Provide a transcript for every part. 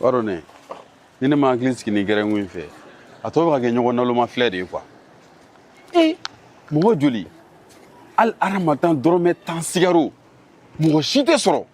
b'a dɔn ne ni ne ma hakili sigi nin gɛrɛn ko in fɛ a tɔ bɛ ka kɛ ɲɔgɔn naloma filɛ de ye quoi e mɔgɔ joli hali aramatan dɔrɔmɛ tan sigaro mɔgɔ si tɛ sɔrɔ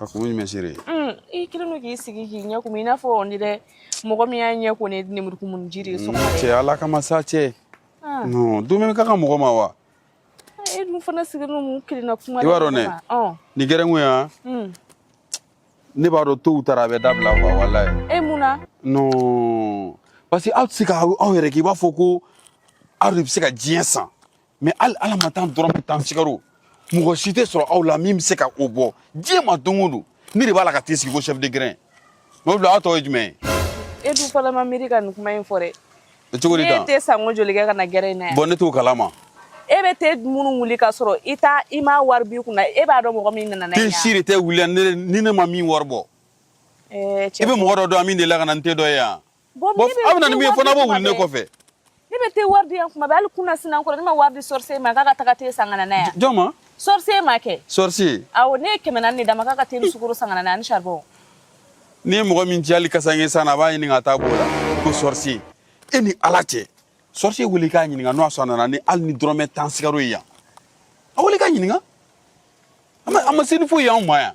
A kun ye mɛsiriri ye i kelen don k'i sigi k'i ɲɛ kumu i n'a fɔ nin dɛ mɔgɔ min y'a ɲɛ ko ni lemurukumu ji ye cɛ ala ka ma sa cɛ dumuni ka ka mɔgɔ ma wa e dun fana sigi ninnu kelenna kuma i b'a dɔn ne ni gɛrɛn ko yan ne b'a dɔn tow taara a bɛ dabila walayi e mun na parce que aw tɛ se k'aw yɛrɛ kɛ i b'a fɔ ko aw de bɛ se ka diɲɛ san mais hali ala ma tan dɔrɔmɛ tan sigaro mɔgɔ si tɛ sɔrɔ aw la min bɛ se ka o bɔ diɲɛ ma don o don ne de b'a la ka te sigi ko chef de grin mais o bila a tɔ ye jumɛn ye e dun fɔlɔ ma miiri ka nin kuma in fɔ dɛ e cogo di tan ne te sanko joli kɛ ka na gɛrɛn in na yan bon ne t'o kalama e bɛ te minnu wuli ka sɔrɔ i t'a i m'a wari b'i kunna e b'a dɔn mɔgɔ min nana n'a ye yan te si de tɛ wuli ni ne ma min wari bɔ i bɛ mɔgɔ dɔ dɔn min delila ka na ni te dɔ ye yan Bon, bon aw bɛ na ni min ye fana b'o wuli ne kɔfɛ ne bɛ te wari di yan kuma bɛɛ hali kunasinin kɔ ne ma wari di sorcier ma k'a ka taga te san ka na n'a yan jɔn ma sorcier ma kɛ sorcier awɔ ne ye kɛmɛ naani de d'a ma k'a ka te ni sukoro san ka na n'a ani saribɔn n'i ye mɔgɔ min ci hali kasanke san na a b'a ɲini k'a ta b'o la ko sorcier e ni ala cɛ sorcier wele k'a ɲininka n'o y'a sɔrɔ a nana ni hali ni dɔrɔmɛ tan sigaro ye yan a wele k'a ɲininka a ma se ni foyi y'anw ma yan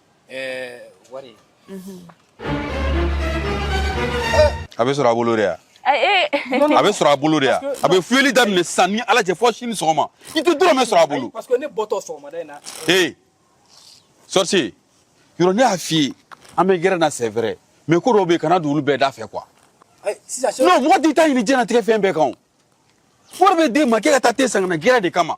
wari a bɛ sɔrɔ a bolo de yan a bɛ sɔrɔ a bolo de yan a bɛ fuyeli daminɛ sisan ni ala cɛ fɔ sini sɔgɔma i tɛ dɔrɔmɛ sɔrɔ a bolo parce que ne bɔtɔ sɔgɔmada in na ee sorcier yɔrɔ ne y'a f'i ye an bɛ gɛrɛn na c'est vrai mais ko dɔw bɛ yen kana don olu bɛɛ da fɛ quoi non mɔgɔ t'i ta ɲini diɲɛlatigɛ fɛn bɛɛ kan o wari bɛ d'e ma k'e ka taa te san ka na gɛrɛn de kama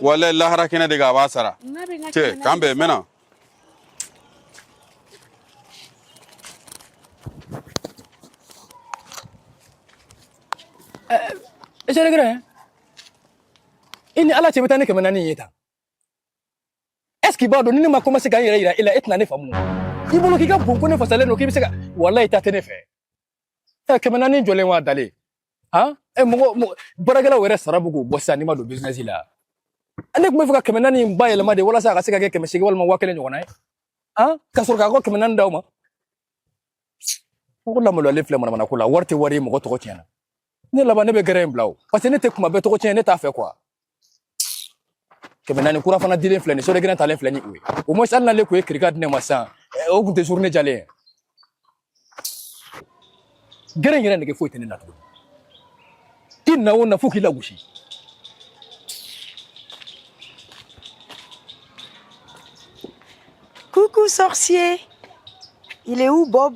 wala lahara kɛnɛ de kan a b'a sara cɛ k'an bɛn mɛna c'est le grin i ni ala cɛ bɛ taa ni kɛmɛ naani ye tan est-ce que i b'a dɔn ni ne ma commencé ka n yɛrɛ yira e la e tɛna ne faamu i bolo k'i ka bon ko ne fasalen don k'i bɛ se ka walayi ta tɛ ne fɛ ɛ kɛmɛ naani jɔlen wa dalen han ɛ mɔgɔ mɔgɔ baarakɛlaw yɛrɛ sara bɛ k'u bɔ sisan n'i ma don bizinɛsi la ne tun bɛ fɛ ka kɛmɛ naani in bayɛlɛma de walasa a ka se ka kɛ kɛmɛ seegin walima waa kelen ɲɔgɔnna ye han ka sɔrɔ k'aw ka kɛmɛ naani d'aw ma ko lamaloyalen filɛ manamana ko la wari tɛ wari ye mɔgɔ tɔgɔ tiɲɛna ne laban ne bɛ gɛrɛ in bila o parce que ne tɛ kuma bɛɛ tɔgɔ tiɲɛ ne t'a fɛ quoi kɛmɛ naani kura fana dilen filɛ nin sɔrɔ gɛrɛ talen filɛ ni o ye au moins hali n'ale tun ye kirika di ne ma sisan o tun tɛ journée jalan ye gɛrɛ in yɛrɛ nege foyi tɛ ne na tuguni i na o na fo k'i lagosi Coucou sorcier Il est où Bob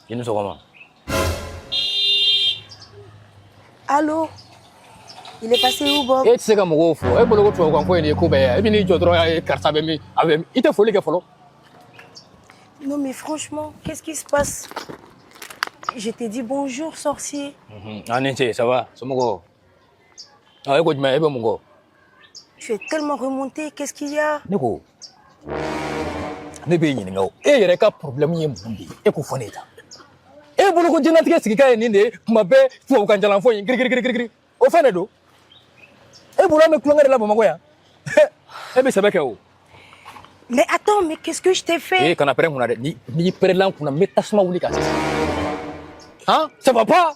I ni sɔgɔma Allô Il est passé où Bob? E tɛ se ka mɔgɔw fo e bolo ko tubabukan ko in de ye ko bɛɛ ye e bɛ n'i jɔ dɔrɔn a ye karisa bɛ min a bɛ min i tɛ foli kɛ fɔlɔ. Non mais franchement, qu'est-ce qui se passe Je t'ai dit bonjour sorcier. An ni ce ça va somɔgɔw. Aa, e ko jumɛn e bɛ mun kan Tu es tellement remonté, qu'est-ce qu'il y a ne ko ne b'e ɲininka o e yɛrɛ ka problème ye mun de ye e k'o fɔ ne ye tan e bolo ko diɲɛlatigɛ sigikan ye nin de ye tuma bɛɛ tubabukan jalan fɔ in girigirigirigiri o fɛn de don e bolo an bɛ tulonkɛ de la bamakɔ yan e bɛ sɛbɛ kɛ o Mais attends, mais qu'est-ce que je t'ai fait e kana pɛrɛn n kunna dɛ ni n'i pɛrɛnla n kunna n bɛ tasuma wuli i kan sisan han ça va pas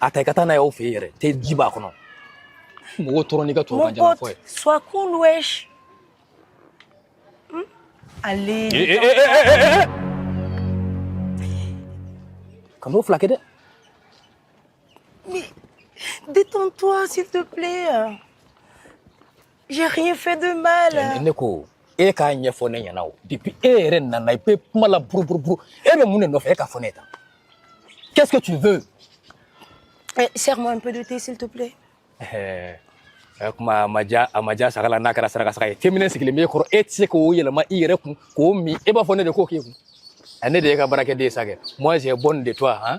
a ta i ka taa n'a ye aw fɛ yen yɛrɛ te ji b'a kɔnɔ mɔgɔw tɔɔrɔ n'i ka tubabukan jalan fɔ ye sois cool wesh hmm? allez eh, eh, eh, kan'o fila kɛ dɛ mais détends-toi s'il te plaît J'ai rien fait de mal. Ne ko e k'a ɲɛfɔ ne ɲɛna o depuis e yɛrɛ nana i bɛ kuma la buruburuburu e bɛ mun de nɔfɛ e k'a fɔ ne ye tan qu'est-ce que tu veux Eh, Sers-moi un peu de thé, s'il te plaît. Eh, eh, kuma a ma diya saga la n'a kɛra saraka saga ye fɛn min sigilen b'e kɔrɔ e tɛ se k'o yɛlɛma i yɛrɛ kun k'o min e b'a fɔ ne de k'o k'e kun Eh, ne de y'e ka baarakɛden ye sa kɛ moi j'ai bonne de toi hein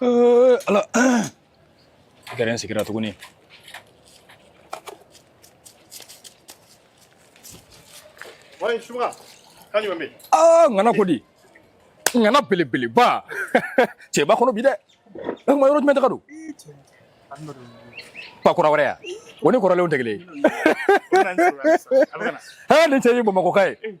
Eh, ala i kɛra n sigira tuguni Ouais subaga kan jumɛn bɛ yen aa ŋana ko di ŋana belebeleba cɛba kɔnɔ bi dɛ e kuma yɔrɔ jumɛn taga don pa kura wɛrɛ ya o ni kɔrɔlenw tɛ kelen ye ɛ nin cɛ ye bamakɔka ye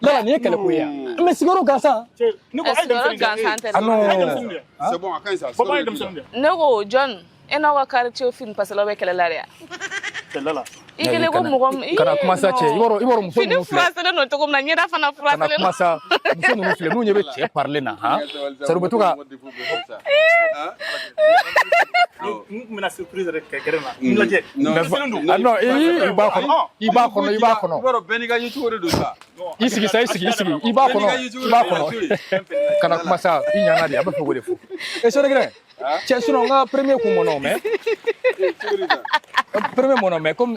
Yala nin ye kɛlɛ ko ye yan mɛ sigiyɔrɔ gansan ne ko John e n'aw ka quartier fini parce qu'a bɛ kɛlɛ la yan i kelen ko mɔgɔ kana kuma sa cɛ don cogo min na ɲɛ fana fura filɛ n'u ɲɛ bɛ cɛ parilen na sa to i sigi sa i sigi i sigi i b'a kɔnɔ i b'a kɔnɔ kana kuma sa i ɲana de a bɛ fɛ k'o de fɔ e sɔrɔgɛrɛ cɛ sinon n ka premier kun mɔnɔ mais premier mɔnɔ mais comme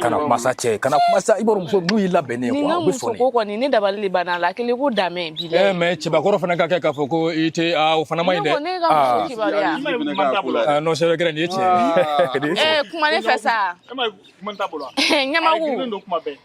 kana kuma sa cɛ kana kuma sa i b'a dɔn muso n'u y'i labɛnnen ye u bɛ sɔn de. ko kɔni ne dabali de banna a la kelen ko damɛ bi dɛ. mais cɛbakɔrɔ fana ka kɛ k'a fɔ ko i tɛ aa o fana ma ɲi dɛ. ne ko ne ka muso kibaruya. aa non sɛbɛ kɛrɛ nin ye tiɲɛ ye. ɛɛ kuma ne fɛ sa. ɲɛmaku.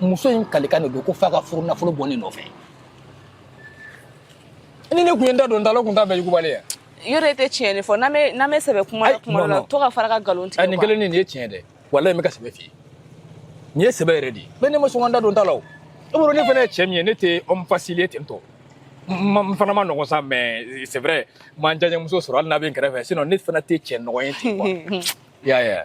muso in kalikan de don ko f'a ka furu nafolo bɔ ne nɔfɛ ni ne tun ye n da don n da la o tun t'a bɛɛ yugubali ye yɔrɔ e tɛ tiɲɛ de fɔ n'an bɛ n'an bɛ sɛbɛ kuma la kuma dɔ la to ka fara ka nkalon tigɛ nin kelen nin ye tiɲɛ dɛ walayi n bɛ ka sɛbɛ f'i ye nin ye sɛbɛ yɛrɛ de ye bɛɛ ne ma sɔn ka n da don n da la o e bolo ne fana ye cɛ min ye ne tɛ homme facile ye ten tɔ n fana ma nɔgɔn sa mais c'est vrai n ma n diyaɲɛmuso sɔrɔ hali n'a bɛ n kɛrɛfɛ sinon ne fana tɛ cɛ nɔgɔn ye ten quoi i y'a ye wa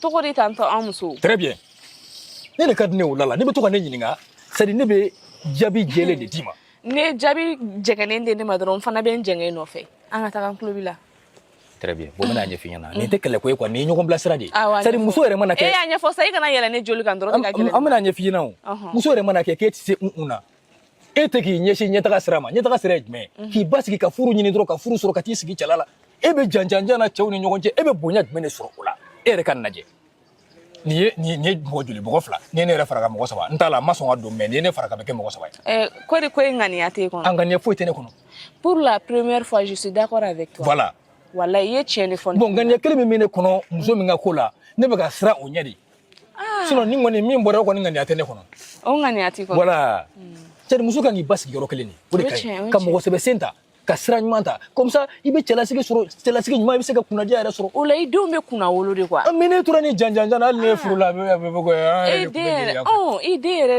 tɔgɔ de tantɔ an muso très bien ne de ka di ne o la la n'e bɛ to ka ne ɲininka c'est à dire ne bɛ jaabi jɛlen de d'i ma n'e jaabi jɛngɛnen di ne ma dɔrɔn n fana bɛ n jɛngɛ nɔfɛ an ka taga n tulo b'i la très bien bon n bɛna a ɲɛf'i ɲɛna nin tɛ kɛlɛ ko ye quoi nin ye ɲɔgɔn bilasira de ye Awɔ, a c'est à dire ɲɛfɔ. muso yɛrɛ mana kɛ e y'a ɲɛfɔ sa i kana yɛlɛ ne joli kan dɔrɔn an ne ka gɛlɛn an bɛna a ɲɛf'i ɲɛna o Ɔhɔn. muso yɛrɛ mana kɛ k'e tɛ se un un na e tɛ k'i ɲɛsin ɲɛtaga sira ma ɲɛtaga sira ye jumɛn ye k'i basigi ka furu ɲini dɔrɔn ka furu sɔrɔ ka t'i sigi cɛla la e bɛ janjanjan na cɛw ni ɲɔgɔn cɛ e bɛ bonya jumɛn de sɔrɔ o la e yɛrɛ ka lajɛ nin ye nin ye mɔgɔ joli mɔgɔ fila n'i ye ne yɛrɛ fara kan mɔgɔ saba n t'a la n ma sɔn ka don mais n'i ye ne fara kan a bɛ kɛ mɔgɔ saba ye. ɛɛ ko de ko e ŋaniya t'e kɔnɔ. a ŋaniya foyi tɛ ne kɔnɔ. pour la première fois je suis d'accord avec toi. voilà. wala i ye tiɲɛ de fɔ. bon ŋaniya kelen min bɛ ne kɔnɔ muso min ka ko la ne bɛ ka siran o ɲɛ de. sinon ni kɔni min bɔra kɔni ŋaniya tɛ ne kɔnɔ o ŋaniya t'i kɔnɔ voilà c'est à dire muso kan k'i basigi yɔrɔ kelen de o de ka ɲi ka mɔgɔ sɛbɛ sen ta ka sira ɲuman ta comme ça i bɛ cɛlasigi sɔrɔ cɛlasigi ɲuman i bɛ se ka kunnadiya yɛrɛ sɔrɔ o la i denw bɛ kunnawolo de quoi mais n'e tora nin janjan na hali n'e ye furu la a bɛ bɛ ko i den yɛrɛ i den yɛrɛ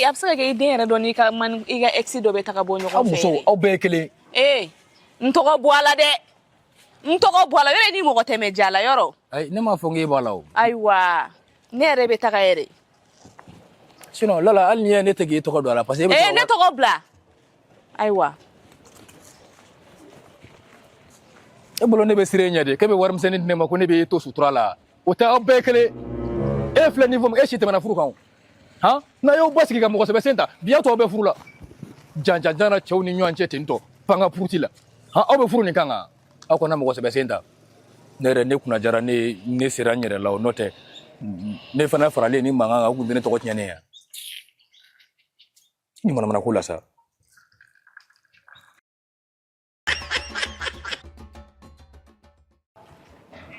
a bɛ se ka kɛ i den yɛrɛ dɔ n'i ka man i ka ex dɔ bɛ taga bɔ ɲɔgɔn fɛ aw musow aw bɛɛ ye kelen ye n tɔgɔ bɔ a la dɛ n tɔgɔ bɔ a la yɔrɔ ni mɔgɔ tɛmɛ ja la yɔrɔ ayi ne m'a fɔ k'e b'a la o ayiwa ne yɛrɛ bɛ taga yɛrɛ sinon Lala hali n'i ye ne tɛ k'e tɔgɔ don a la parce que e bɛ ee ne tɔgɔ bila ayiwa e bolo ne bɛ siran e ɲɛ de k'e bɛ warimisɛnnin di ne ma ko ne bɛ e to sutura la o tɛ aw bɛɛ kelen e filɛ nin fɔ e si tɛmɛna furu kan o han n'a y'aw basigi ka mɔgɔ sɛbɛ sen ta bi a tɔw bɛ furu la janjanjan na cɛw ni ɲɔgɔn cɛ ten to pan ka puruti la han aw bɛ furu nin kan kan aw kana mɔgɔ sɛbɛ sen ta ne yɛrɛ ne kunna diyara ne ne sera n yɛrɛ la o n'o tɛ ne fana faralen ni mankan kan u tun bɛ ne tɔgɔ tiɲɛ ne ye ni manamana ko la sa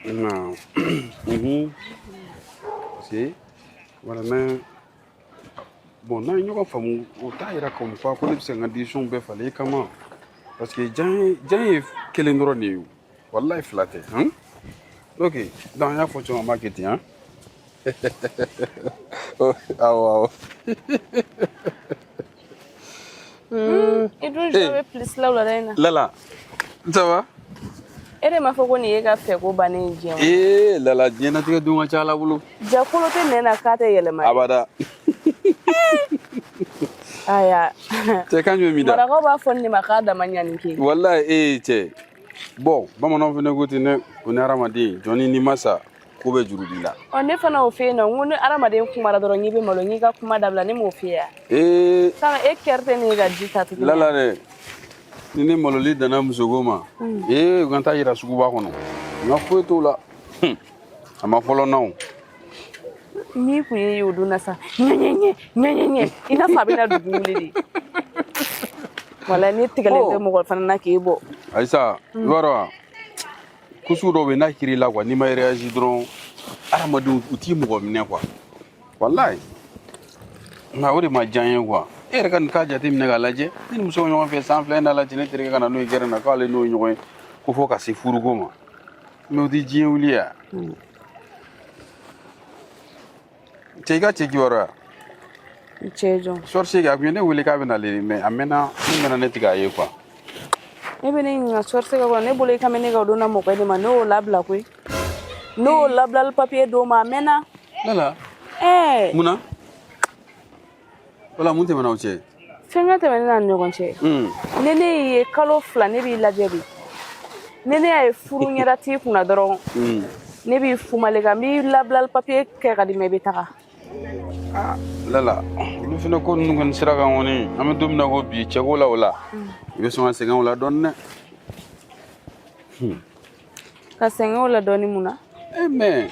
waaw mhm. si voilà mais bon n'a ye ɲɔgɔn faamu o t'a yira comme quoi ko ne bɛ se ka n ka décision bɛɛ falen i kama parce que jan ye jan ye kelen dɔrɔn de ye o walayi fila tɛ han ok donc an y'a fɔ cogo min an b'a kɛ ten han. Awɔ, hmm, i dun jɔ bɛ plus la wulada in na. Lala, n ça va? E de m'a fɔ ko nin y'e ka fɛko bannen ye diɲɛ Ee Lala, diɲɛnatigɛ don ka ca Ala bolo. Jaa kolo tɛ nɛn na k'a tɛ yɛlɛma. Abada. Aya. Cɛ kan jumɛn b'i da? Marakaw b'a fɔ nin de ma k'a dama ɲani ke. Walayi ee cɛ. Bon bamananw fana ko ten dɛ ko ni hadamaden jɔnni n'i ma sa ko bɛɛ juru b'i la ɔ ne fana y'o f'e ye nɔ n ko ni adamaden kumara dɔrɔn i bɛ malo n k'i ka kuma dabila ne m'o f'e ye wa ee sanga e kɛrɛ tɛ ne ka ji ta tuguni lala dɛ ni ne maloli danna musoko ma ee u ka n taa yira suguba kɔnɔ nka foyi t'o la Hum, a ma fɔlɔ na o n'i kun ye o don na sa ɲɛɲɛɲɛ ɲɛɲɛɲɛ i n'a fɔ a bɛna dugu wuli de wala ne tigɛlen tɛ mɔgɔ fana na k'e bɔ ayisa i b'a dɔn wa ko sugu dɔw bɛ yen n'a kɛr'i la quoi n'i ma réagi dɔrɔn adamadenw u t'i mɔgɔ minɛ quoi walayi nka o de ma diya n ye quoi e yɛrɛ ka nin k'a jateminɛ k'a lajɛ ne ni muso ɲɔgɔn fɛ san fila in na lajɛ ne terikɛ ka na n'o ye gɛrɛn na k'ale n'o ye ɲɔgɔn ye ko fo ka se furuko ma mais o tɛ diɲɛ wuli ya Cɛ i ka cɛ kibaruya? N cɛ jɔn? Sorcier a tun ye ne wele k'a bɛ na le mais a mɛnna n mɛnna ne tɛ k'a ye quoi. E bɛ ne ɲininka sorcier ka ko na ne bolo i ka mɛn ne ka don na mɔgɔ de ma ne y'o labila koyi ne y'o labilali papiye d'o ma a mɛnna. Lala. Ɛɛ. Munna? wala mun tɛmɛna aw cɛ fɛn ka tɛmɛ ne n'a ni ɲɔgɔn cɛ ne n'e ye kalo fila ne b'i lajɛ bi ne ne y'a ye furu ɲɛda t'i kunna dɔrɔn ne b'i fumale kan n b'i labilali papiye kɛ ka d'i ma i bɛ taga lala olu fana ko ninnu kɔni sira kan kɔni an bɛ don min na ko bi cɛko la o la i bɛ sɔn ka sɛgɛn o la dɔɔni dɛ ka sɛgɛn o la dɔɔni mun na e mais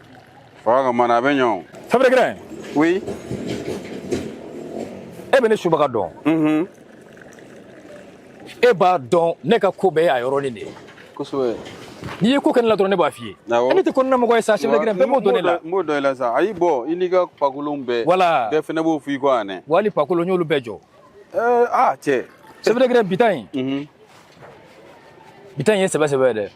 Fanga ka mana a bɛ ɲɔgɔn chef de grain oui e bɛ ne subaga dɔn mhm. e b'a dɔn ne ka ko bɛɛ y'a yɔrɔnin de ye kosɛbɛ n'i ye ko kɛ ne la dɔrɔn ne b'a f'i ye e ne tɛ kɔnɔna mɔgɔ ye sa chef de grain bɛɛ b'o dɔn ne la n b'o dɔn i la sa ayi bon i n'i ka pakolonw bɛɛ voilà bɛɛ fɛnɛ b'o f'i kɔ yan dɛ wali pakolon n y'olu bɛɛ jɔ aa cɛ chef de grain bi ta in mhm. bi ta in ye sɛbɛ sɛbɛ ye dɛ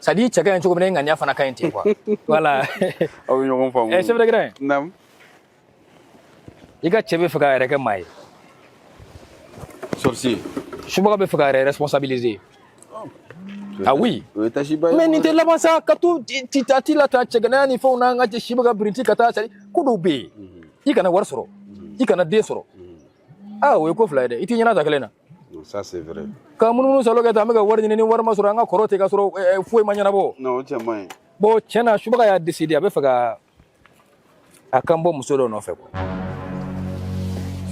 c'est à dire i cɛ ka ɲi cogo min na e ŋaniya fana ka ɲi ten quoi voilà aw bɛ ɲɔgɔn faamu eh, chef de grain naam i ka cɛ bɛ fɛ k'a yɛrɛ kɛ maa ye sorcier subaga bɛ fɛ k'a yɛrɛ responsabiliser oh. ah oui mais nin tɛ laban sa ka to a t'i lata cɛganaya ni fɛnw n'an ka cɛ subaga birinti ka taa c'est à dire ko dɔw bɛ yen mhm. i kana wari sɔrɔ mhm. i kana den sɔrɔ mhm. aa o ye ko fila ye dɛ i t'i ɲɛnata kelen na ça c'est vrai ka munumunu salo kɛ tan an bɛ ka wari ɲini ni wari ma sɔrɔ an ka kɔrɔ ten ka sɔrɔ eh, eh, foyi ma ɲɛnabɔ non o cɛ man ɲi bon tiɲɛ na subaga y'a décidé a bɛ fɛ ka a kan bɔ muso dɔ nɔfɛ quoi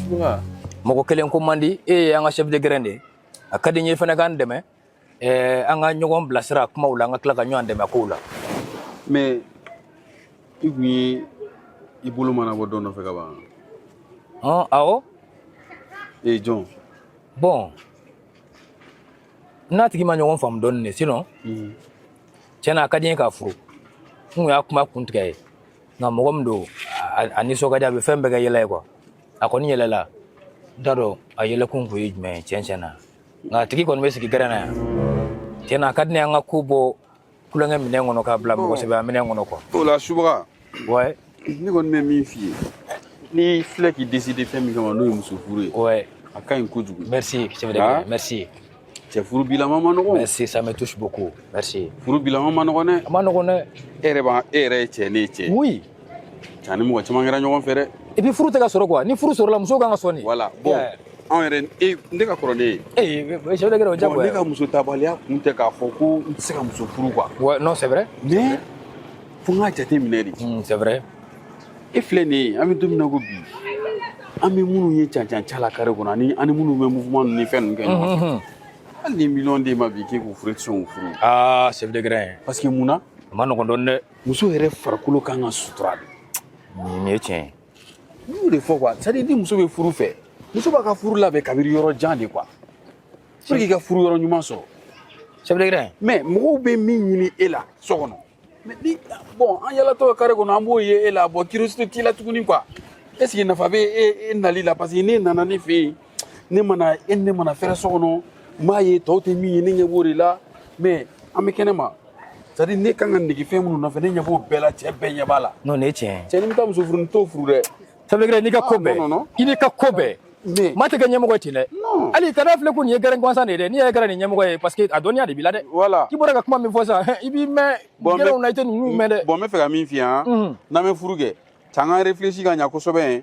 subaga mɔgɔ kelen ko man di e ye an ka chef de grain de ye a ka di n ye fana k'an dɛmɛ Ɛɛ an ka ɲɔgɔn bilasira kumaw la an ka tila ka ɲɔgɔn dɛmɛ kow la mais i tun ye i bolo mana bɔ dɔ nɔfɛ ka ban hɔn awɔ ee jɔn bon n n'a tigi ma ɲɔgɔn faamu dɔɔni de sinon mhm. tiɲɛ na a ka di n ye k'a furu n kun y'a kuma kun tigɛ a ye nka mɔgɔ min don a nisɔn ka di a bɛ fɛn bɛɛ kɛ yɛlɛ ye quoi a kɔni yɛlɛla n t'a dɔn a yɛlɛkun kun ye jumɛn ye tiɲɛ tiɲɛ na nka a tigi kɔni bɛ sigi gɛrɛn na yan tiɲɛ na a ka di ne ye an ka ko bɔ tulonkɛ minɛn kɔnɔ k'a bila mɔgɔ sɛbɛya minɛn kɔnɔ quoi o la subaga ouais ne kɔni bɛ min f'i ye n'i filɛ k'i décider fɛn min kama n'o ye muso furu ye ouais a ka ɲi kojugu merci chef de grain Ah. merci cɛ furu bilama ma nɔgɔn merci ça me touche beaucoup merci furu bilama ma nɔgɔn dɛ a ma nɔgɔn dɛ e yɛrɛ b'a e yɛrɛ ye cɛ ne ye cɛ oui an ni mɔgɔ caman kɛra ɲɔgɔn fɛ dɛ et puis furu tɛ ka sɔrɔ quoi ni furu sɔrɔla muso kan ka sɔn de voilà bon anw yɛrɛ e ne ka kɔrɔ ne ye ee chef de grain o jagoya ne ka muso tabaliya kun tɛ k'a fɔ ko n tɛ se ka muso furu quoi ouais non c'est vrai mais fo n k'a jate minɛ de hmm, c'est vrai e filɛ nin ye an bɛ don min na ko bi an bɛ minnu ye cancan ca la carré kɔnɔ ani ani minnu bɛ mouvement ninnu ni fɛn ninnu kɛ ɲɔgɔn fɛ hmm, hmm, hali ni miliyɔn d'e ma bi k'e k'u furu e tɛ sɔn k'u furu aa chef de grain parce que mun na a ma nɔgɔn dɔɔnin dɛ muso yɛrɛ farikolo kan ka sutura de nin ye tiɲɛ ye n y'o de fɔ quoi c'est à dire ni muso bɛ furu fɛ muso b'a ka furu labɛn kabiri yɔrɔ jan de quoi pour que i ka furu yɔrɔ ɲuman sɔrɔ chef de grain mais mɔgɔw bɛ min ɲini e la so kɔnɔ mais ni bon an yalatɔ carré kɔnɔ an b'o ye e la bon curiosité t'i la tuguni quoi est ce que nafa bɛ e nali la parce que n'e nana ne fɛ yen ne mana e ne mana fɛrɛ so kɔnɔ n b'a ye tɔw tɛ min ye ne ɲɛ b'o de la mais an bɛ kɛnɛ ma c'est à dire ne kan ka nege fɛn minnu nɔfɛ ne ɲɛ b'o bɛɛ la cɛ bɛɛ ɲɛ b'a la non nin ye tiɲɛ ye cɛ n'i bɛ taa muso furu ni t'o furu dɛ chef de grin n'i ka ko Ah, bɛɛ non, non, non. i n'i ka ko bɛɛ Mais- maa tɛ kɛ ɲɛmɔgɔ ye ten dɛ Non. hali kana filɛ ko nin ye gɛrɛn gansan de ye dɛ n'i yɛrɛ kɛra nin ɲɛmɔgɔ ye parce que a dɔnniya de b'i la dɛ Voilà. k'i bɔra ka kuma min fɔ sisan hɛ, i b'i mɛn Bon, gɛrɛnw mais- na i tɛ ninnu mɛn dɛ bon n bɛ fɛ ka min f'i ye han Mhm. n'an bɛ furu kɛ cɛ an ka réfléchir ka ɲa kosɛbɛ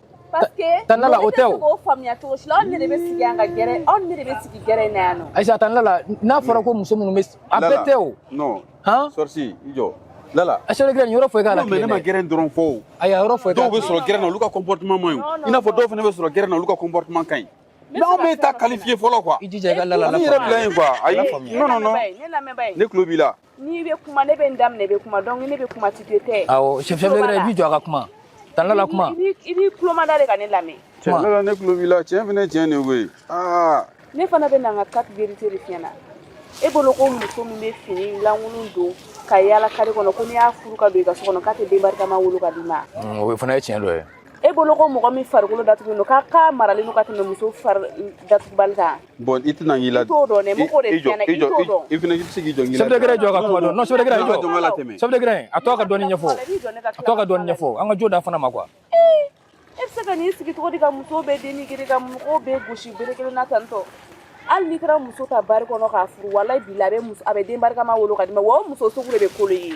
tan Lala o tɛ o faamuya cogo si la anw ne de bɛ sigi an ka gɛrɛn anw ne de bɛ sigi gɛrɛn in na yan nɔ ayi sa tan Lala n'a fɔra ko muso minnu bɛ a bɛɛ tɛ o non han sorcier i jɔ Lala a chef de grin yɔrɔ foyi k'a la ne ma gɛrɛn dɔrɔn fɔ o ayi yɔrɔ foyi dɔw bɛ sɔrɔ gɛrɛn na olu ka comportement man ɲi i n'a fɔ dɔw fana bɛ sɔrɔ gɛrɛn na olu ka comportement ka ɲi n'aw bɛ taa qualifier fɔlɔ quoi i jija i ka Lala la faamuya yɛrɛ bila yen quoi ayi non non non ne tulo b'i la n'i bɛ kuma ne bɛ n da minɛ i bɛ kuma donc ne bɛ kuma tu te tais awɔ chef de grin i b'i jɔ a ka kuma tan Lala kuma i b'i tulo mada de ka ne lamɛn tiɲɛ Lala ne tulo b'i la tiɲɛ fana tiɲɛ de koyi aa ne fana bɛ na n ka quatre vérités de f'i ɲɛna e bolo ko muso min bɛ fini lankolon don ka yaala kare kɔnɔ ko n'i y'a furu ka don i ka so kɔnɔ k'a tɛ den barikama wolo ka d'i ma o fana ye tiɲɛ dɔ ye e bolo ko mɔgɔ min farikolo datugulen don k'a maralen don ka tɛmɛ muso fari datugubali kan Bon i tɛna k'i la. I t'o dɔn dɛ, mɔgɔ de tiɲɛna, i t'o dɔn. I fana i tɛ se k'i jɔ n k'i la. Chef de grin i jɔ n ka kuma dɔn, non chef de grin jɔ. Jɔ n k'a latɛmɛ. Chef de grin a to a ka dɔɔni ɲɛfɔ, a to a ka dɔɔni ɲɛfɔ, an ka jo d'a fana ma quoi. Ee e bɛ se ka n'i sigi cogo di ka muso bɛɛ dénigrer ka mɔgɔw bɛɛ gosi bere kelen na tan tɔ. Hali n'i taara muso ta bari kɔnɔ k'a furu walayi bilahi a bɛ muso a bɛ den barikama wolo ka d'i ma wa o muso sugu de bɛ kolo i ye.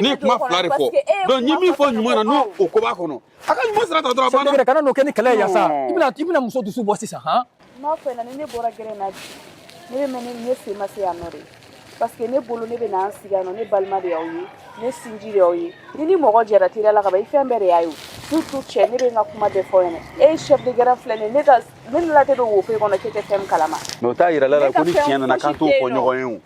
n ye kuma fila de fɔ donc n ye min fɔ ɲuman na n'o o ko b'a kɔnɔ a ka ɲuman sira ta dɔrɔn a banna chef de grin kana n'o kɛ ni kɛlɛ ye yan sa i bɛna i bɛna muso dusu bɔ sisan han n b'a f'i ɲɛna ni ne bɔra gɛrɛn na bi ne bɛ mɛn ne sen ma se yan nɔ de parce que ne bolo ne bɛ na an sigi yan nɔ ne balima de y'aw ye ne sinji de y'aw ye ni ni mɔgɔ jɛra teriya la ka ban i fɛn bɛɛ de y'a ye surtout cɛ ne bɛ n ka kuma bɛɛ f'i ɲɛna e ye chef de grin filɛ nin ne ka ne ni la tɛ don wo foyi kɔnɔ k'e tɛ fɛn min kalama mais o t'a yira Lala ko ni tiɲɛ nana k'an t'o fɔ ɲɔgɔn ye o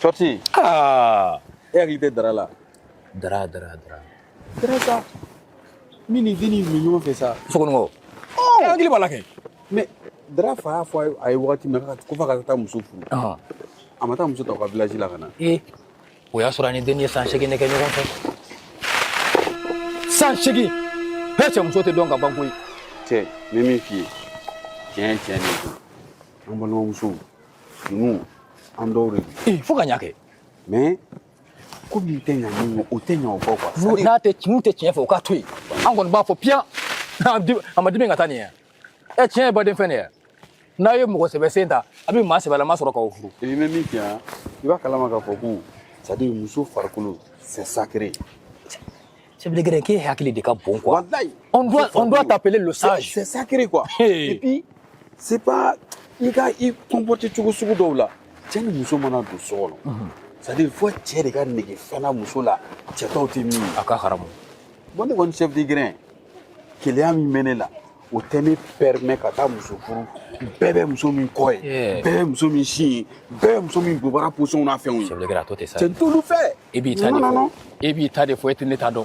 Sɔti aa e hakili tɛ dara la dara dara dara dara sa min ni denni min ɲɔgɔn fɛ sa sokɔnɔmɔgɔw e hakili b'a la kɛ mais dara fa y'a fɔ a ye wagati min na ko f'a ka taa muso furu a ma taa muso ta u ka village la ka na ee o y'a sɔrɔ a ni denni ye san segin de kɛ ɲɔgɔn fɛ san segin bɛɛ cɛ muso tɛ dɔn ka ban koyi cɛ n bɛ min f'i ye tiɲɛ tiɲɛ de don an balimamusow ninnu an dɔw de ee fo ka ɲa kɛ mais ko min tɛ ɲa min ye o tɛ ɲa o kɔ quoi n'a tɛ n'u tɛ tiɲɛ fɛ o k'a to yen an kɔni b'a fɔ piyan a ma dimi ka taa nin ye ɛ tiɲɛ ye baden fɛn de ye n'a ye mɔgɔ sɛbɛ sen ta a bɛ maa sɛbɛlama sɔrɔ k'aw furu i bɛ min fɔ yan i b'a kalama k'a fɔ ko c'est à dire muso farikolo c'est sacré Chef de grin, k'e hakili de ka bon quoi. Walayi. On doit, on doit t'appeler le sage. C'est sacré quoi. Et puis c'est pas i ka i comporter cogo sugu dɔw la cɛ ni muso mana don so kɔnɔ c'est à dire fo cɛ de ka nege fɛn na muso la cɛ tɔw tɛ min ye a ka haramu bon ne kɔni chef de grin keleya min bɛ ne la o tɛ ne permet ka taa muso furu bɛɛ bɛ muso min kɔ ye Yeah. bɛɛ bɛ muso min sin ye bɛɛ bɛ muso min bobara position n'a fɛnw ye chef de grin a to ten sa cɛ n t'olu fɛ e b'i ta de Non, non, fɔ non. e b'i ta de fɔ e tɛ ne ta dɔn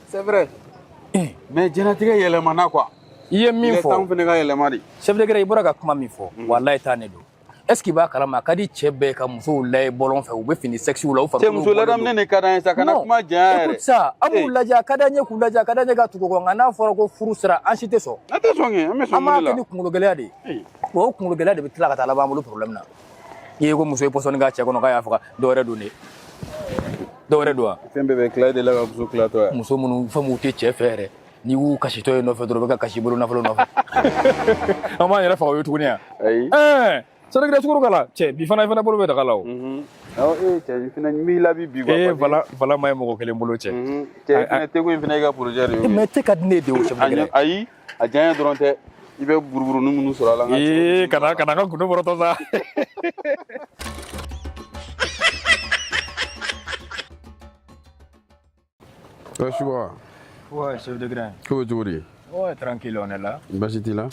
c'est vrai eh. mais diɲɛlatigɛ yɛlɛmana quoi i ye min fɔ temps fana ka yɛlɛma de chef de grin i bɔra ka kuma min fɔ mm. wallahi tiɲɛ don est ce que i b'a kalama a ka di cɛ bɛɛ ka musow layɛ bɔlɔn fɛ u bɛ fini sexyw la u farikolo muso ladamunen de ka d'an ye sa kana kuma janya yɛrɛ écoute ça an b'u lajɛ a ka d'an ye k'u lajɛ a ka d'an ye ka tugu u kɔ nka n'a fɔra ko furu sera an si tɛ sɔn an tɛ sɔn kɛ an bɛ sɔn mun de la an b'a kɛ ni kunkologɛlɛya de ye wa o kunkologɛlɛya de bɛ tila ka taa laban an bolo problème na i ye ko muso ye pɔsɔni k'a cɛ kɔnɔ k'a y'a faga dɔ wɛrɛ don de dɔ wɛrɛ don wa fɛn bɛɛ bɛ tila e de la ka muso tila to yen muso minnu fɛn minnu tɛ cɛ fɛ yɛrɛ n'i y'u kasitɔ ye nɔfɛ dɔrɔn u bɛ ka kasi i bolo nafolo nɔfɛ an b'an yɛrɛ faga o ye tuguni yan ayi ɛɛ sɛnɛkɛla sukoro k'a la cɛ bi fana i fana bolo bɛ daga la o awɔ e cɛ i fana n b'i labi bi ee vala vala ma ye mɔgɔ kelen bolo cɛ cɛ i fana teko in fana y'i ka porozɛ de ye mais te ka di ne de ye o chef de grin ayi a diya dɔrɔn tɛ i bɛ buruburunin minnu sɔrɔ a la ee kana kana n ka gundo bɔrɔtɔ sa Suba. Ouais, chef de grin. Ko bɛ cogo di? Ouais, tranquille, on est là. Basi t'i la?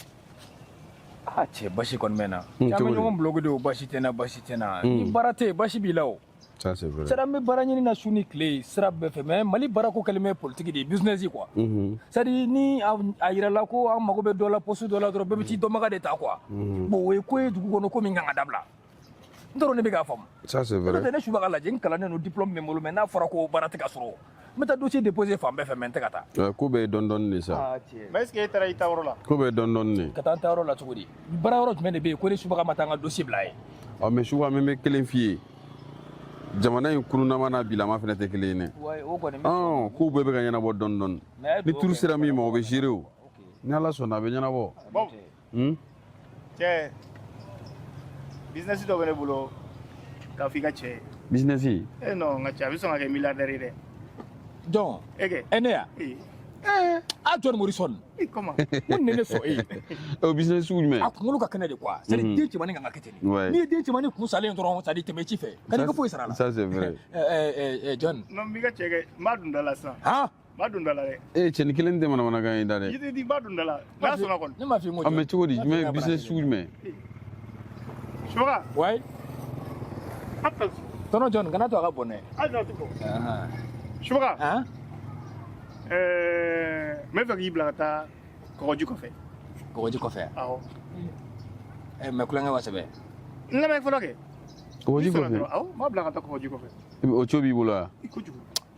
Ah, cɛ basi kɔni bɛ n na. Caman ɲɔgɔn bloqué de o basi tɛ n na, basi tɛ n na. Ni baara tɛ yen, basi b'i la o. Ça, c'est vrai. C'est à dire n bɛ baara ɲini na su ni tile sira bɛɛ fɛ mais Mali baarako kɛlen bɛ politique de ye business ye quoi. Unhun. C'est à dire ni a yirala ko an mago bɛ dɔ la poste dɔ la dɔrɔn bɛɛ bɛ t'i dɔnbaga de ta quoi. Unhun. Bon o ye ko ye dugu kɔnɔ ko min ka kan ka dabila. N tɔɔrɔlen bɛ k'a faamu. Ça, c'est vrai. N'o tɛ ne Subaga lajɛ n kalannen don diplôme bɛ n bolo mais n'a fɔra ko baara tɛ ka sɔrɔ n bɛ taa dossier déposer fan bɛɛ fɛ mais n tɛ ka ta. ko bɛɛ ye dɔɔni dɔɔni de sa. aa tiɲɛ. mais est ce que e taara i taa yɔrɔ la. ko bɛɛ ye dɔɔni dɔɔni de. ka taa n taa yɔrɔ la cogo di baara yɔrɔ jumɛn de bɛ yen ko ne subaga ma taa n ka dossier bila yen. ɔ mais subaga ne bɛ kelen f'i ye jamana in kununama n'a bilama fana tɛ kelen ye dɛ. wa o kɔni. ɔn kow bɛɛ bɛ ka ɲɛnabɔ dɔɔni dɔɔni. ni turu sera min ma o bɛ gérer o. ni ala sɔnna a bɛ ɲɛnabɔ. Hmm? cɛ bizinɛsi dɔ bɛ ne bolo k'a fɔ i ka cɛ ye bizinɛsi e non n ka cɛ a bɛ sɔn ka kɛ miliyardɛri ye dɛ jɔn e kɛ ɛ ne ya ee a John Morrison i kɔma ko ni ne sɔn e ye o bizinɛsi sugu jumɛn a kunkolo ka kɛnɛ de quoi c'est à dire den cɛmannin ka kan ka kɛ ten de Ouais. n'i ye den cɛmannin kun salen dɔrɔn c'est à dire tɛmɛ ci fɛ kan'i ka foyi sara a la ça c'est vrai Ɛ, ɛ, ɛ, ɛ, John non n b'i ka cɛ kɛ n b'a dun da la sisan han b'a don da la dɛ e eh, cɛ nin kelen tɛ manamanakan ye da dɛ yiri di n b'a don da la n'a sɔnna kɔni ne m'a f'i ko mais cogo di jumɛn business sugu jumɛn subaga ouais tɔnɔ jɔn kana to a ka bɔn dɛ hali n'a tɛ bɔ subaga n bɛ fɛ k'i bila ka taa kɔgɔji kɔfɛ kɔgɔji kɔfɛ awɔ eh, mais kulonkɛ wa sɛbɛ n lamɛn fɔlɔ kɛ kɔgɔji kɔfɛ awɔ n b'a bila ka taa kɔgɔji kɔfɛ o co b'i bolo wa kojugu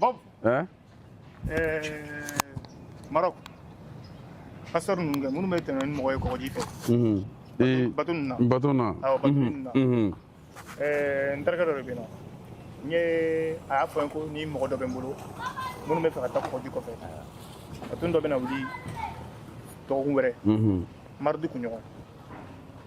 Bob. Hein? Eh, Maroc. Passeur ninnu kɛ minnu bɛ tɛmɛ ni mɔgɔ ye kɔgɔji fɛ. Mhm. Ee bato ninnu na. Bato na. Awɔ bato mhm. ninnu na. Mhm. Eh, n terikɛ dɔ de bɛ yen nɔ. N ye a y'a fɔ n ye ko ni mɔgɔ dɔ bɛ n bolo minnu bɛ fɛ ka taa kɔgɔji kɔfɛ. Bato dɔ bɛ na wuli dɔgɔkun wɛrɛ. Mardi kunɲɔgɔn.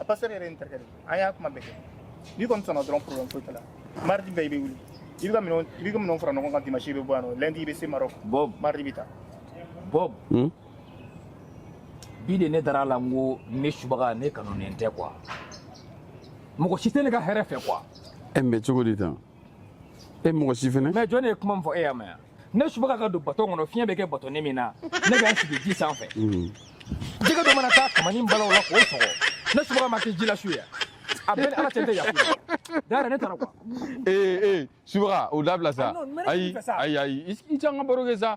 a passeur yɛrɛ ye n terikɛ de an y'a kuma bɛɛ kɛ n'i kɔni sɔnna dɔrɔn problème foyi t'a la mardi bɛɛ i bɛ wuli i bɛ ka minɛnw i bɛ ka minɛnw fara ɲɔgɔn kan dimanche i bɛ bɔ yan nɔ lundi i bɛ se Maroc Bob mardi i bɛ taa Bob bi de ne dara a la n ko ne subaga ne kanunen tɛ quoi mɔgɔ si tɛ ne ka hɛrɛ fɛ quoi e mais cogo di tan e mɔgɔ si fɛnɛ mais jɔn de ye kuma min fɔ e y'a mɛn yan ne subaga ka don baton kɔnɔ fiɲɛ bɛ kɛ batonin min na ne bɛ n sigi ji sanfɛ jɛgɛ dɔ mana taa kamani bala o la k'o sɔgɔ ne subaga ma kɛ ji la su ye a bɛɛ ni ala cɛ tɛ yafa d'ailleurs ne taara quoi ee ee subaga o dabila sa ayi ayi ayi i sigi an ka baro kɛ sa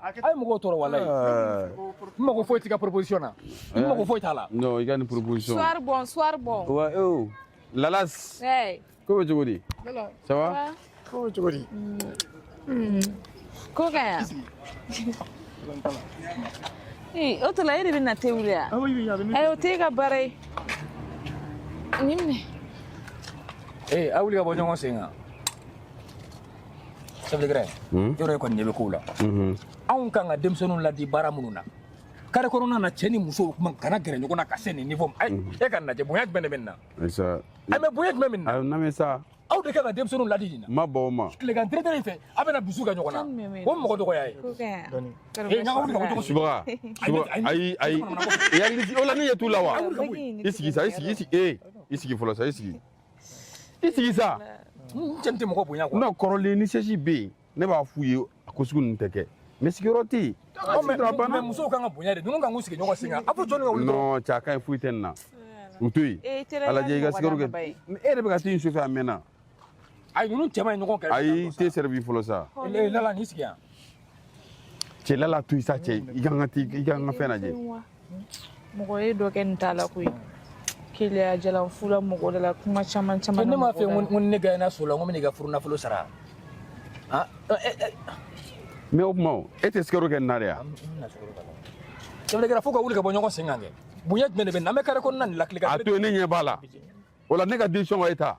a ye mɔgɔw tɔɔrɔ walayi n mago foyi t'i ka proposition na n mago foyi t'a la non i ka nin proposition soir bon soir bon ouais oh lalas ko bɛ cogo di ça va ko bɛ cogo di ko ka yan ee o tuma e de bɛ na te wuli yan ayi o t'e ka baara ye nin minɛ ee a wuli ka bɔ ɲɔgɔn sen kan chef de grin hmm? yɔrɔ e kɔni ɲɛ bɛ kow la mhm. anw kan ka denmisɛnninw ladi baara minnu na carré kɔnɔna na cɛ ni muso kuma kana gɛrɛ ɲɔgɔn na ka se nin niveau ma mhm. e k'a lajɛ bonya jumɛn de bɛ nin na a mais bonya jumɛn bɛ nin na n lamɛn sa aw de kan ka denmisɛnninw ladi nin na ma bɔ o ma tilegan tere-tere in fɛ a bɛna dusu kɛ ɲɔgɔn na o mɔgɔ dɔgɔya ye ee ɲaga wuli ka bɔ ɲɔgɔn subaga ayi ayi i hakili o la ne ɲɛ t'u la wa i sigi sa i sigi i sigi ee i sigi fɔlɔ sa i sigi i sigi sa cɛ tɛ mɔgɔ bonya quoi non kɔrɔlen ni sɛsi bɛ yen ne b'a f'u ye a ko sugu ninnu tɛ kɛ mais sigiyɔrɔ tɛ yen mais musow kan ka bonya de ninnu kan k'u sigi ɲɔgɔn sen kan a fɔ jɔnni ka wuli non cɛ a ka ɲi foyi tɛ nin na u to yen a lajɛ i ka sigiyɔrɔ kɛ e yɛrɛ bɛ ka t'i su fɛ a mɛnna ayi ninnu cɛ man ɲi ɲɔgɔn kɛrɛfɛ ayi i te servi fɔlɔ sa lala n'i sigi yan cɛ lala to yen sa cɛ i ka n ka i ka n ka fɛn lajɛ mɔgɔ ye dɔ kɛ nin t'a la koyi keleya jalan fula mɔgɔ de la kuma caman caman ne m'a fɔ ko ni ne gagner so la n ko n bɛna i ka furu nafolo sara mais o kuma o e tɛ sukaro kɛ nin na de ya chef de grin fo ka wuli ka bɔ ɲɔgɔn sen kan kɛ bonya jumɛn de bɛ nin na an bɛ carré kɔnɔna nin lakile ka a to yen ne ɲɛ b'a la o la ne ka décision ka e ta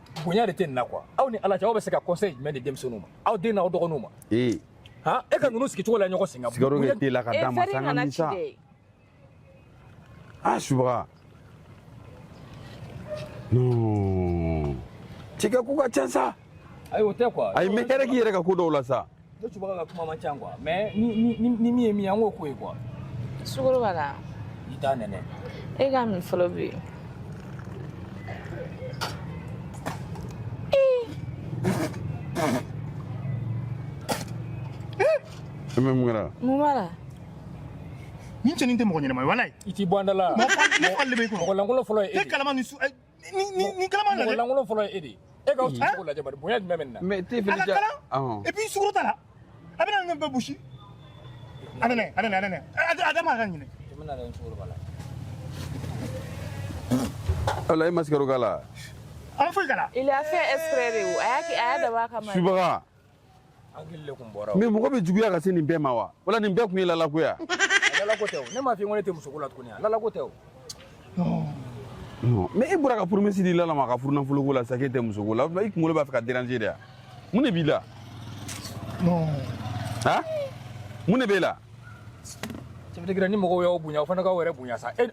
bonya de tɛ nin na quoi aw ni ala cɛ aw bɛ se ka conseil jumɛn di denmisɛnninw ma aw den n'aw dɔgɔninw ma ee han e ka ninnu sigi cogo la ɲɔgɔn sen kan sukaro kɛ te la ka d'an ma sa an k'a min sa a subaga non cɛ i ka ko ka ca sa ayi o tɛ quoi ayi mais hɛrɛ k'i yɛrɛ ka ko dɔw la sa ne subaga ka kuma man ca quoi mais ni ni ni min ye min ye an k'o ko ye quoi sukaro b'a la i t'a nɛnɛ e k'a min fɔlɔ bi e mais mun kɛra mun b'a la nin cɛnin tɛ mɔgɔ ɲɛnama ye walayi i t'i bɔ an da la mɔgɔ fagali de bɛ i kun mɔgɔ lankolon fɔlɔ ye e de ye. e kalama ni su ni kalama na lankolon fɔlɔ ye e de e k'aw sigi cogo lajɛ bari bonya jumɛn bɛ nin na mais te fili ja et puis sukaro t'a la a bɛ na nin bɛɛ busi a bɛ na a bɛ na a bɛ na a da ma ka ɲinɛ i bɛ na nin sukaro b'a la walayi e ma sukaro k'a la a ma foyi k'a la il a fait exprès dɛ a y'a dabɔ a kama subaga mais mɔgɔ bɛ juguya ka se nin bɛɛ ma wa wala nin bɛɛ tun ye lala ko ya lala ko tɛ ne m'a f'i ye ko ne tɛ musoko la tuguni lala ko tɛ mais e bɔra ka promesse di lala ma ka furu nafoloko la sa k'e tɛ musoko la i kunkolo b'a fɛ ka déranger de ya mun de b'i la ha mun de b'e la chef de grin ni mɔgɔw y'aw bonya aw fana k'aw yɛrɛ bonya sa e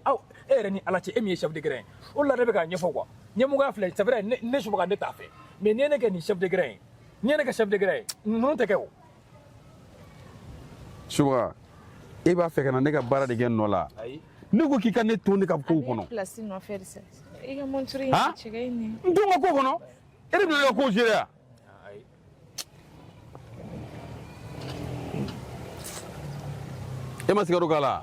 yɛrɛ ni ala cɛ e min ye chef de grin o de la ne bɛ k'a ɲɛfɔ quoi ɲɛmɔgɔya filɛ c'est vrai ne subaga ne t'a fɛ mais n'i ye ne kɛ nin chef de grin ye n'i ye ne kɛ chef de grin ye ninnu tɛ kɛ o subaga e b'a fɛ ka na ne ka baara de kɛ n nɔ la ne ko k'i ka ne to ne ka kow kɔnɔ i ka montre in ha cɛ in nin n to n ka ko kɔnɔ e de bɛna ne ka kow gérer ya E ma sukaro k'a la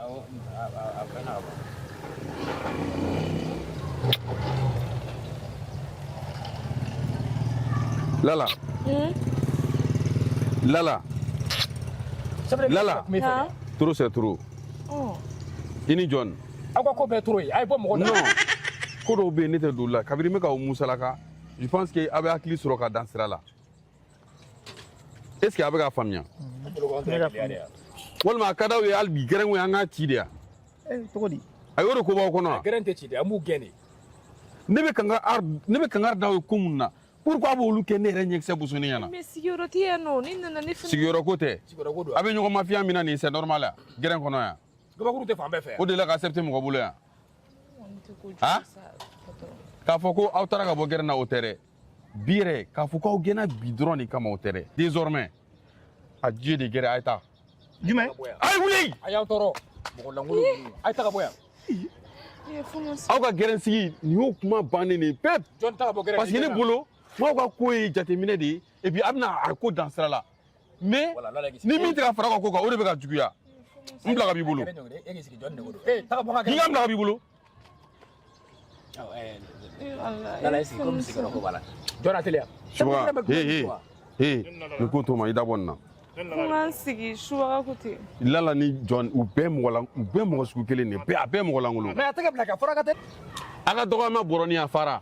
Lala. Hmm? Lala. Lala. Lala. Trop c'est trop. Oh. I ni jɔn. Aw ka ko bɛɛ trop ye. A ye bɔ mɔgɔ la. Ko dɔw bɛ yen ne tɛ don olu la kabini n bɛ k'aw musalaka je pense que aw bɛ hakili sɔrɔ ka dan sira la. est ce que a bɛ k'a faamuya walima a ka d'aw ye hali bi gɛrɛnw an k'a ci de yan cogo di a y'o de ko b'aw kɔnɔ wa gɛrɛn tɛ ci de an b'u gɛn de ne bɛ kangari ne bɛ kangari d'aw ye ko mun na pourquoi b'olu kɛ ne yɛrɛ ɲɛkisɛ bosonen ɲɛ na mais sigiyɔrɔ tɛ yan nɔ ne nana ne fana sigiyɔrɔ ko tɛ sigiyɔrɔ ko don a bɛ ɲɔgɔn mafiya min na nin c'est normal ya gɛrɛn kɔnɔ yan gabakuru tɛ fan bɛɛ fɛ o de la ka accepter mɔgɔ bolo yan ha k'a fɔ ko aw taara ka bɔ gɛrɛn na o tɛ dɛ bi yɛrɛ k'a fɔ k'aw gɛnna bi dɔrɔn de kama o tɛ dɛ désormais adieu de gɛrɛn a ye taa jumɛn a ye wuli a y'an tɔɔrɔ mɔgɔ lankolon ninnu a ye taa ka bɔ yan aw ka gɛrɛn sigi nin y'o kuma bannen de pep parce que ne bolo m'aw ka ko ye jateminɛ de ye et puis a bɛna a ko dan sira la mais ni min tɛ ka fara ka ko kan o de bɛ ka juguya n bila ka b'i bolo n ka bila ka b'i bolo nin ko to n ma i da bɔ nin na kuma sigi subaga ko ten lala ni john u bɛɛ mɔgɔ la u bɛɛ mɔgɔ sugu kelen de bɛɛ a bɛɛ mɔgɔ lankolon mais a tɛ ka bila ka fara ka tɛ a ka dɔgɔyama bɔrɔ ni a fara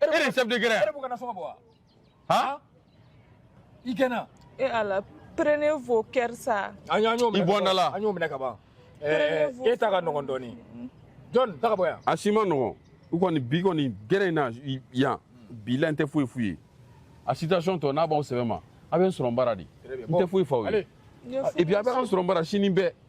e de chef de gɛrɛn e b'u ka nasɔngɔ bɔ wa han i gɛnna e ala prenez vos cœurs sa an y'an y'o minɛ i bɔ n da la an y'o minɛ ka ban e ta ka nɔgɔn dɔɔnin john taa ka bɔ yan a si ma nɔgɔn n kɔni bi kɔni gɛrɛn in na yan bi la n tɛ foyi f'u ye a situation tɔ n'a b'aw sɛbɛ ma a bɛ n sɔrɔ n bara de n tɛ foyi f'aw ye et puis a bɛ an sɔrɔ n bara sini bɛɛ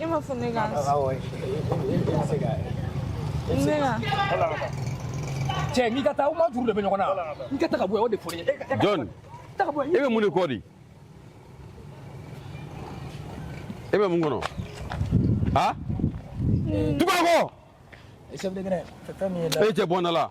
E m'a fɔ ne ka ne ka cɛ n'i ka taa aw ma juru de bɛ ɲɔgɔn na n ka taa ka bɔ yan o de fɔ ye John e bɛ mun de kɔ di e bɛ mun kɔnɔ a tukɔkɔ e cɛ bɔ n da la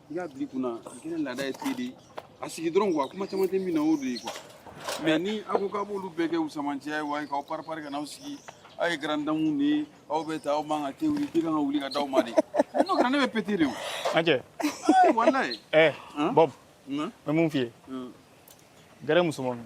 i k'a bila i kunna gɛrɛn laada ye te de ye a sigi dɔrɔn quoi kuma caman tɛ min na o de ye quoi mais ni aw ko k'a b'olu bɛɛ kɛ u samancɛ ye wa k'aw paripari ka n'aw sigi aw ye garandamu de ye aw bɛ taa aw man ka te wuli k'i kan ka wuli ka d'aw ma de n'o kɛra ne bɛ péter de o an cɛ walayi ɛ bɔb n bɛ mun f'i ye gɛrɛn musoman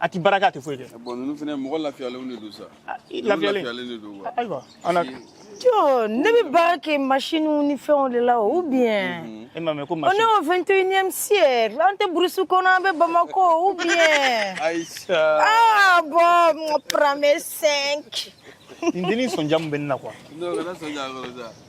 a tɛ baara kɛ a tɛ foyi kɛ bon ninnu fana mɔgɔ lafiyalenw de don sa ah, lafiyalen de don quoi ah, ayiwa an na jo ne bɛ baara kɛ masiniw ni fɛnw de la ou bien mhm. e m'a mɛn ko masini on est au 21e siècle an tɛ burusi kɔnɔ an bɛ Bamako ou bien Aïcha ah bon prends mes 5 nin dennin sɔnja min bɛ ne na quoi non kana sɔnja kɔrɔ sa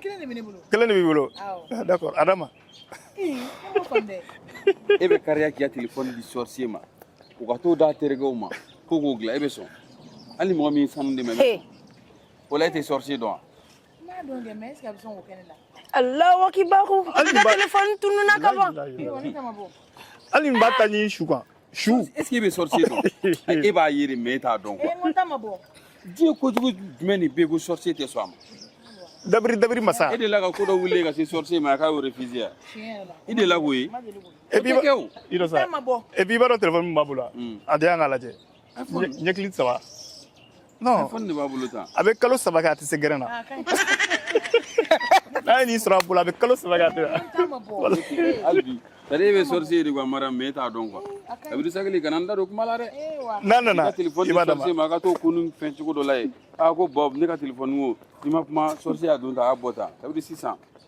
kelen de bɛ ne bolo kelen de b'i bolo ah, d'accord Adama e bɛ kariya k'i ka telefɔni di sɔrisiye ma o ka t'o d'a terikɛw ma ko k'o dilan e bɛ sɔn hali mɔgɔ min sanu dɛmɛ bɛ o la e tɛ sɔrisiye dɔn wa n b'a dɔn dɛ mais est-ce que a bɛ sɔn k'o kɛ ne la Allahu akibaru i ka telefɔni tununna ka ban hali n b'a ta ɲin su kan su est-ce que e bɛ sorcier dɔn e b'a ye de mais e t'a dɔn quoi eh, diɲɛ kojugu jumɛn de bɛ yen ko sorcier tɛ sɔn a ma dabiri dabiri masa e delila ka ko dɔ wuli ka se sorcier ma a ka o refuser ya i delila k'o ye e b'i kɛ o i dɔ sa e b'i b'a dɔn téléphone min b'a bolo a di an k'a lajɛ ɲɛkili saba Non. iPhone de b'a bolo tan. A bɛ kalo saba kɛ a tɛ se gɛrɛn na. N'a ye nin sɔrɔ a bolo a bɛ kalo saba kɛ a tɛ. Hali bi. Sari e bɛ sorcier ye de quoi Mariam mais e t'a dɔn quoi. Dabiri sabali kana n da don kuma la dɛ. N'a nana i b'a d'a ma. Ka téléphone di sorcier ma a ka t'o kunun fɛn cogo dɔ la yen. A ko Bob ne ka téléphone ko n'i ma kuma sorcier y'a don tan a y'a bɔ tan. Kabiri sisan.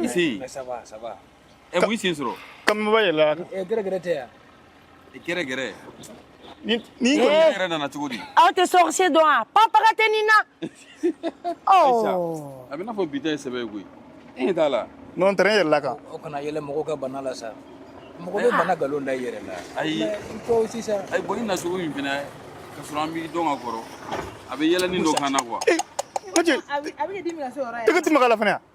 I se ça va ça va e mun y'i sen sɔrɔ kanba yɛlɛ gɛrɛ tɛ yan gɛrɛ ni yɛrɛ nana cogo di aw tɛ sorcier dɔn a papa tɛ ni na a bɛ n'a fɔ bi ta ye sɛbɛ ye koyi e ɲɛ t'a la n tɛ yɛlɛ kan o kana yɛlɛ mɔgɔw ka bana la sa mɔgɔ bɛ bana nkalon da i yɛrɛ la ayi sisan ayi bon i na cogo min fana ka sɔrɔ an b'i dɔn ka kɔrɔ a bɛ yɛlɛ ni dɔ kan na quoi tɛgɛ tɛ maga la fana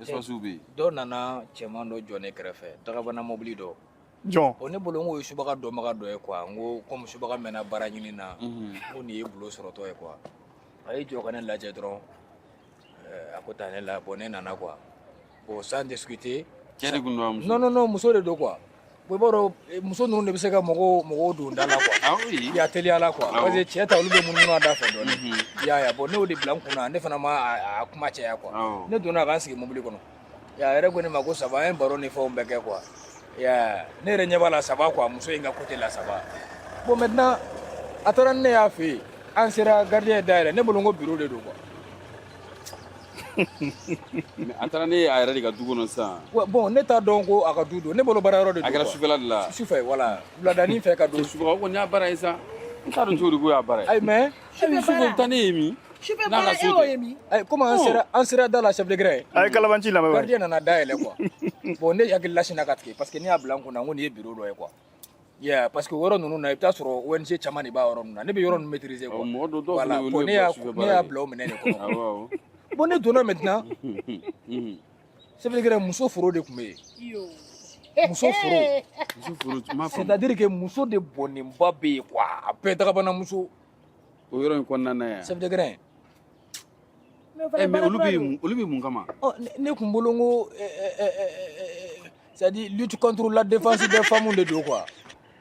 Espace bɛ yen. Dɔ nana cɛman dɔ jɔ ne kɛrɛfɛ dagabana mɔbili dɔ. Jɔn? Bon ne bolo n k'o ye subaga dɔnbaga dɔ ye quoi n ko comme subaga mɛnna baara ɲini na. Unhun. N ko nin ye boulot sɔrɔtɔ ye quoi. A y'i jɔ ka ne lajɛ dɔrɔn ɛɛ a ko ta ne la bon ne nana quoi. Bon sans discuter. Cɛ de tun don wa muso? Non non non muso de don quoi. i b'a dɔn eh, muso ninnu de bɛ se ka mɔgɔw don da la quoi ah oui ya teliya la quoi ah parce que cɛ ta olu bɛ munumunu a da fɛ dɔɔni mhm. ya ya bon ne y'o de bila n kunna ne fana ma a kuma caya quoi ah ne donna ka n sigi mobili kɔnɔ a yɛrɛ ko ne ma ko ça va an ye baro ni fɛnw bɛɛ kɛ quoi ya ne yɛrɛ ɲɛ b'a la ça va quoi muso in ka côté la ça va bon maintenant a taara ni ne y'a fɛ yen an sera gardien ye da yɛlɛ ne bolo n ko bureau de don quoi a taara ni ne ye a yɛrɛ de ka du kɔnɔ sisan bon ne t'a dɔn ko a ka du don ne bolo baara yɔrɔ de don quoi a kɛra sufɛla de la sufɛ voilà wuladanin fɛ ka don sufɛ kɔni y'a baara ye sa n t'a dɔn cogo di ko y'a baara ye ayi mais hali sufɛ taa ne ye min sufɛ baara e y'o ye min ayi comme an sera an sera da la chef de grin a ye kalabanci lamɛn gardien nana da yɛlɛ quoi bon ne hakilila sinna ka tigɛ parce que ne y'a bila n kunna ko nin ye bureau dɔ ye quoi Yeah, parce que yɔrɔ ninnu na i bɛ taa sɔrɔ ONG caman de b'a yɔrɔ ninnu na ne bɛ yɔrɔ ninnu maîtriser quoi mɔgɔ dɔ dɔw voilà fana olu bon ne ye y'a police kɛ ne baara y'a ye. bila o minɛn de kɔnɔ Awɔ, awɔ. bon ne donna maintenant Mhm. chef de grin muso foro de tun bɛ yen muso foro Muso foro, n m'a faamu. c'est-à-dire que muso de bɔnnenba bɛ yen quoi a bɛɛ dagabana muso O yɔrɔ in kɔnɔna na yan. chef de grin Eh, mais olu bɛ olu bɛ mun kama ne tun bolo n ko c'est à dire lutte contre la défense des femmes de don quoi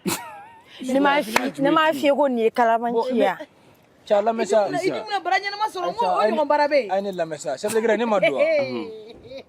ne m'a f'i ne m'a f'i ye ko nin ye kalabanci ye cɛ lamɛn sa i dun bɛna baara ɲɛnama sɔrɔ n ko o ɲɔgɔn baara bɛ yen a ye ne lamɛn sa chef de grin ne ma don wa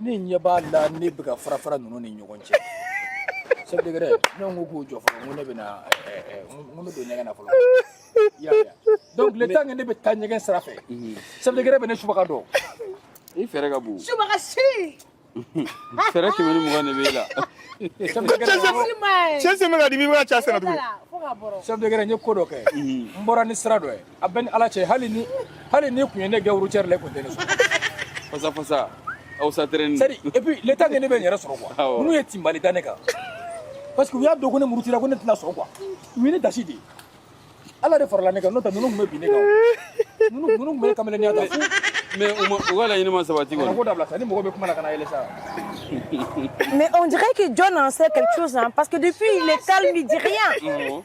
ne ɲɛ b'a la ne bɛ ka fara fara ninnu ni ɲɔgɔn cɛ chef de guerre ne ko k'u jɔ fɔlɔ n ko ne bɛ na n ko n bɛ don ɲɛgɛn na fɔlɔ i y'a faamuya donc le temps que ne bɛ taa ɲɛgɛn sira fɛ chef de guerre bɛ ne subaga dɔn i fɛɛrɛ ka bon subaga si fɛɛrɛ kɛmɛ ni mugan de b'e la chef de guerre cɛ sen bɛ ka dimi i bɛ ka cɛ sɛnɛ tuguni chef de guerre n ye ko dɔ kɛ n bɔra ni sira dɔ ye a bɛ ni ala cɛ hali ni hali ni kun ye ne gɛn routière la e kun tɛ ne sɔrɔ fasa fasa aw sa terɛni c'est à dire et puis le temps ne bɛ n yɛrɛ sɔrɔ quoi Awɔ. n'u ye tinbali da ne kan parce que u y'a dɔn ko ne murutira ko ne tɛna sɔrɔ quoi u ye ne dasi de ye ala de farala ne kan n'o tɛ ninnu tun bɛ bin ne kan ninnu ninnu tun bɛ ne kameleniya ta fo mais u ma u ka laɲini ma sabati kana kɔni ko dabila sa ni mɔgɔ bɛ kuma la kana yɛlɛ sa Mais on dirait que John en sait quelque chose, hein, parce que depuis, il est calme, il dit rien. Awɔ.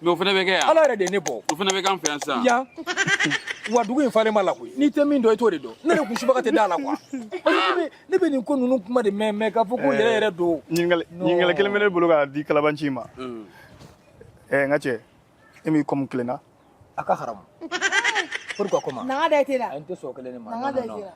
mais o fana bɛ kɛ yan ala yɛrɛ de ye ne bɔ o fana bɛ k'an fɛ yan sisan yan wa dugu in falen maa la koyi n'i tɛ min dɔn i t'o de dɔn ne de kun subaga tɛ da la quoi ne bɛ nin ko ninnu kuma de mɛn mɛn k'a fɔ ko yɛrɛ yɛrɛ don ɲininkali kelen bɛ ne bolo k'a di kalabanci ma ɛɛ n ka cɛ e m'i comme tilenna a ka haramu pourquoi comment nanga da tɛ la n tɛ sɔn kelen de ma nanga da tɛ la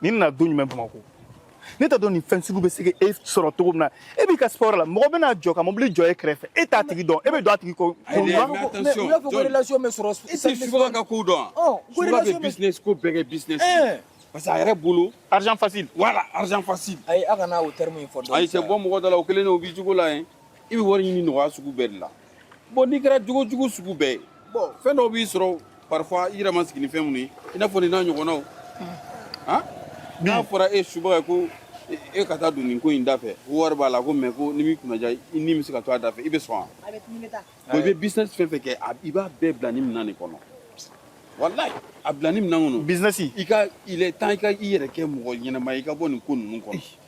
ni nana don jumɛn bamakɔ ne t'a dɔn nin fɛn sugu bɛ se ka e sɔrɔ cogo min na e b'i ka sport la mɔgɔ bɛna jɔ ka mobili jɔ e kɛrɛfɛ e t'a tigi dɔn e bɛ don a tigi kɔ. n y'a fɔ ko relation bɛ sɔrɔ. i tɛ subaga ka ko dɔn. subaga bɛ business ko bɛɛ kɛ business. parce que a yɛrɛ bolo. argent facile. voilà argent facile. ayi a kana o terme in fɔ. ayi tɛ bɔ mɔgɔ da la o kelen de o b'i jogo la yen. i bɛ wari ɲini nɔgɔya sugu bɛɛ de la bon n'i kɛra jogo jugu sugu bɛɛ ye bon fɛn dɔw b'i sɔrɔ parfois i yɛrɛ ma sigi ni fɛn minnu ye i n'a fɔ nin n'a ɲɔgɔnnaw han n'a fɔra e subaga ye ko e ka taa don nin ko in da fɛ ko wari b'a la ko mais ko ni m'i kunnaja i ni bɛ se ka to a da fɛ i bɛ sɔn wa bon i bɛ business fɛn fɛn kɛ i b'a bɛɛ bila ni minɛn de kɔnɔ walayi a bila ni minɛn kɔnɔ business i ka il est temps i ka i yɛrɛ kɛ mɔgɔ ɲɛnama ye i ka bɔ nin ko ninnu kɔnɔ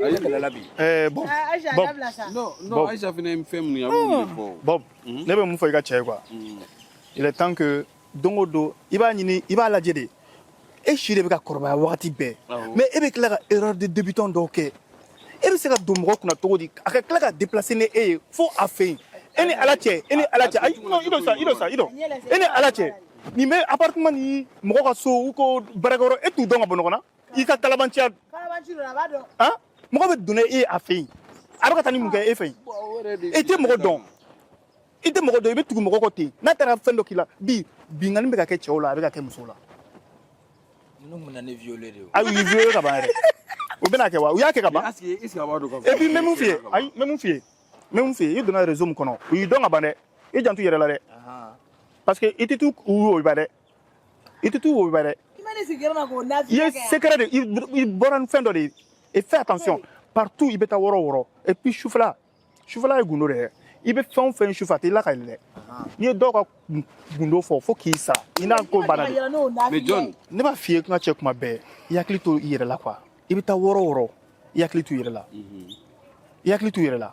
Ale bilala bi. Ɛɛ Bob. Aisha a dabila sa. Non non Aisha fana ye fɛn min ye a b'o de fɔ. Bob ne bɛ mun fɔ i ka cɛ ye quoi. Il est temps que don o don i b'a ɲini i b'a lajɛ de e si de bɛ ka kɔrɔbaya wagati bɛɛ mais e bɛ tila ka erreur de débutant dɔw kɛ e bɛ se ka don mɔgɔ kunna cogo di a ka tila ka déplacer ni e ye fo a fɛ yen e ni ala cɛ e ni ala cɛ ayi non i dɔ sa i dɔ sa i dɔ e ni ala cɛ nin bɛ appartement ni mɔgɔ ka so u ko baarakɛyɔrɔ e t'u dɔn ka bɔ ɲɔgɔn na i ka kalabanciya mɔgɔ bɛ don a fɛ yen a bɛ ka taa ni mun kɛ e fɛ yen i tɛ mɔgɔ dɔn i tɛ mɔgɔ dɔn i bɛ tugu mɔgɔ kɔ ten n'a taara fɛn dɔ k'i la bi binkanni bɛ ka kɛ cɛw la a bɛ ka kɛ musow la ayi u y'i violer ka ban yɛrɛ u bɛna kɛ wa u y'a kɛ ka ban et puis n bɛ mun f'i ye ayi n bɛ mun f'i ye n bɛ mun f'i ye i donna réseau min kɔnɔ u y'i dɔn ka ban dɛ i janto i yɛrɛ la dɛ parce que i tɛ t'u u woba dɛ i tɛ t'u wo bɛ dɛ i ma ne sigi yɔrɔ ma k'o n'a i ye sigi kɛ yan. secret de i- i bɔra ni fɛn dɔ de ye et fais attention partout i bɛ taa yɔrɔ o yɔrɔ et puis sufɛla sufɛla ye gundo de ye i bɛ fɛn o fɛn sufɛ a tɛ la ka yɛlɛ n'i ye dɔw ka gun- gundo fɔ fo k'i sa i n'a ko banna de Yɔrɔ n'o n'a Mais sigi John, yan. ne b'a f'i ye kuma cɛ kuma bɛɛ i hakili to i yɛrɛ la quoi i bɛ taa yɔrɔ o yɔrɔ i hakili to i yɛrɛ la i hakili to i yɛrɛ la